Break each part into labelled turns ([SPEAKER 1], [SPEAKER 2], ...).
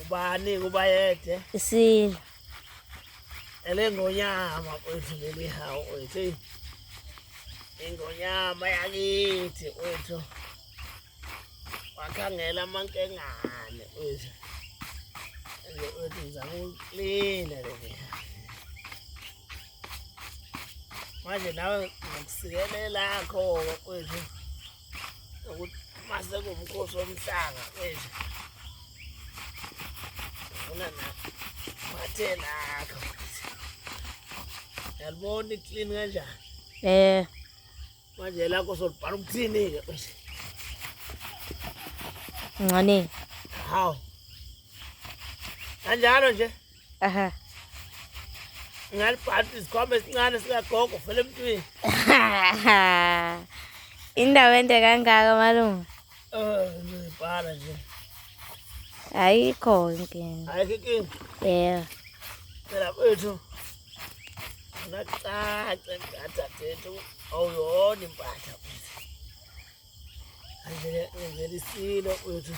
[SPEAKER 1] ubani
[SPEAKER 2] kubayede isilo elengonyama kwethu leli hawu kwethu ingonyama yakithi kwethu wakhangela amankengane kwethu nje kwethu ngizama ukulina leli manje nawe ngokusikelela kho kwethu masekuwumkhosi womhlanga manje funa nabathelakho yalibona i-clean kanjani um manje lakho solibhala ukuthini-ke manje
[SPEAKER 1] ncaneni hawu
[SPEAKER 2] kanjalo nje
[SPEAKER 1] Aha.
[SPEAKER 2] Ngalibhadi isikhwama esincane sikagogo vele emntwini.
[SPEAKER 1] Indawo ende kangaka malume. Eh, ngibhala
[SPEAKER 2] nje. Ayikho
[SPEAKER 1] inkinga. Ayikho inkinga.
[SPEAKER 2] Yeah. Phela kwethu. Ngacaca ngathathethu awuyona impahla. ngenzela isilo uyothi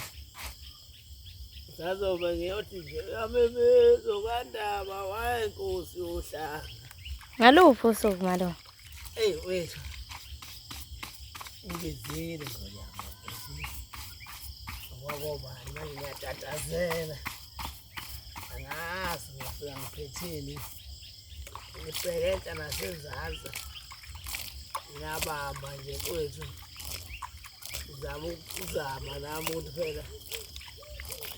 [SPEAKER 2] sazobe ngiyothi nje uyamemeza okandaba waye nkosi yohlanga ngaluphi
[SPEAKER 1] usuku malo eyi wethu
[SPEAKER 2] ngizile ngonyama okwakobani manje ngiyatatazela angazi ngifika ngiphetheni ngiseketa nasezansi ngiyabamba nje kwethu ngizama ukuzama nami ukuthi phela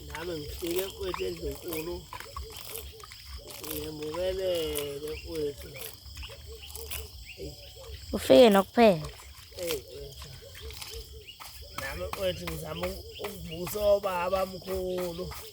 [SPEAKER 2] nami ngifike kwethu endlunkulu ngimukelele kwethu
[SPEAKER 1] ufike nokuphela
[SPEAKER 2] nami kwethu ngizama ukuvusa obaba mkhulu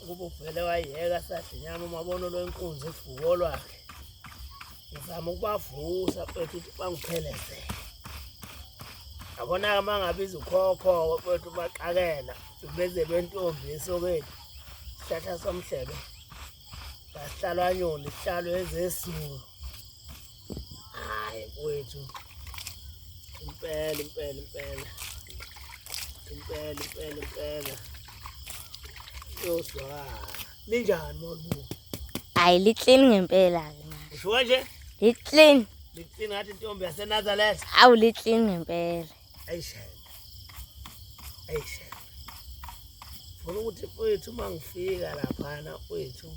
[SPEAKER 2] ukuba uvele wayeka sadinyama umabona lwenkunzi ifuko lwakhe ngizama ukubavusa kwethu ukuthi bangipheleze abona-ke uma ngabiza ukhokho-ke kwethu baxakela beze lwentombi esokeni isihlahla somhlebe basihlalwanyoni sihlalwe ezesulu Hayi kwethu. Impela impela impela. Impela impela impela. Yoswala. Linjani molubu? Hayi liclean
[SPEAKER 1] ngempela ke manje. Usho kanje?
[SPEAKER 2] Liclean.
[SPEAKER 1] Liclean ngathi
[SPEAKER 2] intombi yaseNazareth. Awu liclean
[SPEAKER 1] ngempela. Ayishela.
[SPEAKER 2] Ayishela. Funa ukuthi kwethu mangifika lapha na kwethu.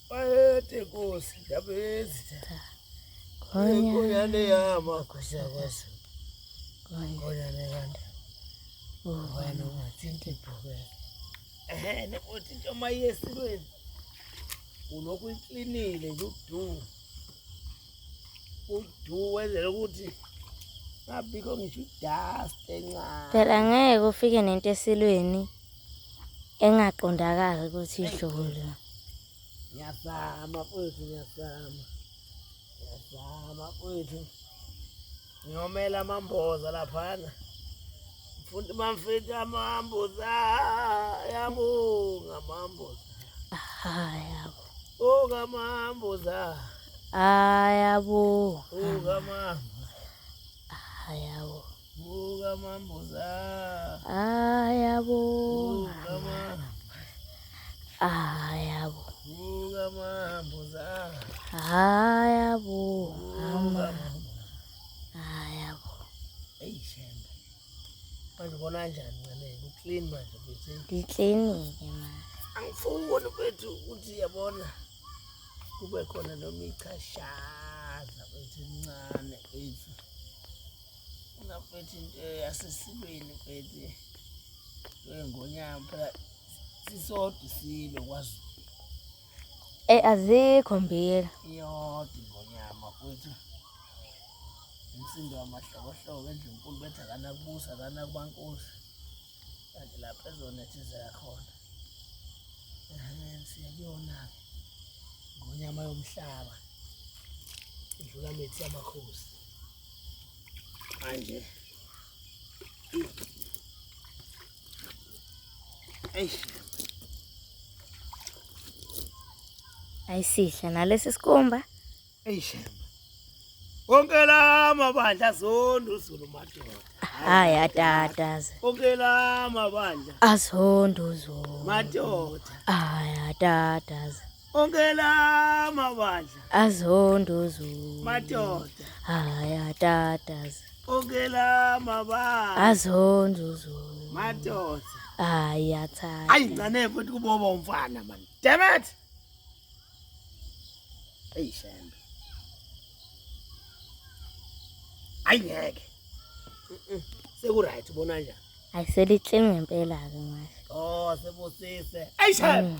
[SPEAKER 2] Bayede Nkosi ndabezitha. Ngonyane yama Nkosi yakwazi. Ngonyane kanti. Ubani ungathinta ibhokela. Ehhe nokuthi into mayesilweni. Ulokhu iklinile nje udu. Udu wenzela ukuthi ngabikho ngisho idust encane. Phela ngeke ufike
[SPEAKER 1] nento esilweni. engaqondakali ukuthi idlule ngiyazama
[SPEAKER 2] futhi ngiyazama ngiyazama futhi ngiyomela amamboza laphana futhi bamfethu amamboza yabonga amamboza ayabo
[SPEAKER 1] bonga
[SPEAKER 2] amamboza
[SPEAKER 1] ayabo bonga
[SPEAKER 2] amamboza
[SPEAKER 1] ayabo
[SPEAKER 2] ngiklinike ma angifuni kwethu ukuthi yabona kube khona noma ichashaza kwethu incane kwethu Ungabethi into yasesilweni bethi ngonyama phela sisodwa isilo kwaZulu. Eh azikho
[SPEAKER 1] mbiyela. Iyodwa
[SPEAKER 2] ingonyama kwethu. Umsindo wamahlokohloko endlunkulu bethi akanakubusa akanakubankosi. Kanti lapha ezonethezeka khona. Siyakuyona-ke ngonyama yomhlaba idlula mithi yamakhosi. Manje.
[SPEAKER 1] Eish. Ayisihle nalesi sikumba. Eish.
[SPEAKER 2] Konke lama bandla zondu zulu madoda. Hayi
[SPEAKER 1] atataze. Konke lama
[SPEAKER 2] bandla. Azondu
[SPEAKER 1] zulu. Madoda.
[SPEAKER 2] Hayi
[SPEAKER 1] atataze. onke la
[SPEAKER 2] mabandla azondozo
[SPEAKER 1] madoda
[SPEAKER 2] haya
[SPEAKER 1] tatas onke la
[SPEAKER 2] mabandla azondozo
[SPEAKER 1] madoda
[SPEAKER 2] haya
[SPEAKER 1] tata ayi ncane futhi
[SPEAKER 2] kuboba umfana man damn it ayi shembe ayi ngeke seku right ubona njani ayiselithle
[SPEAKER 1] ngempela ke manje oh sebusise
[SPEAKER 2] ayi shembe mm.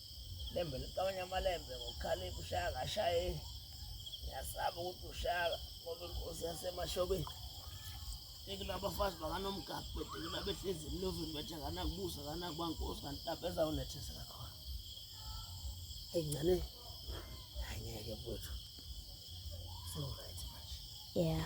[SPEAKER 2] Lembe liqabanya amalembe ngokukhalipha ushaya kashaye. Ngiyasaba ukuthi ushaka ngoba inkosi yasemashobeni. Tekela abafazi bakanomgaqo betekela behlezi emlovini bethe akanakubusa akanakuba nkosi kanti lapho ezawunethesela khona. Eyi ngane angeke
[SPEAKER 1] mfowethu.
[SPEAKER 2] So right manje. Yeah.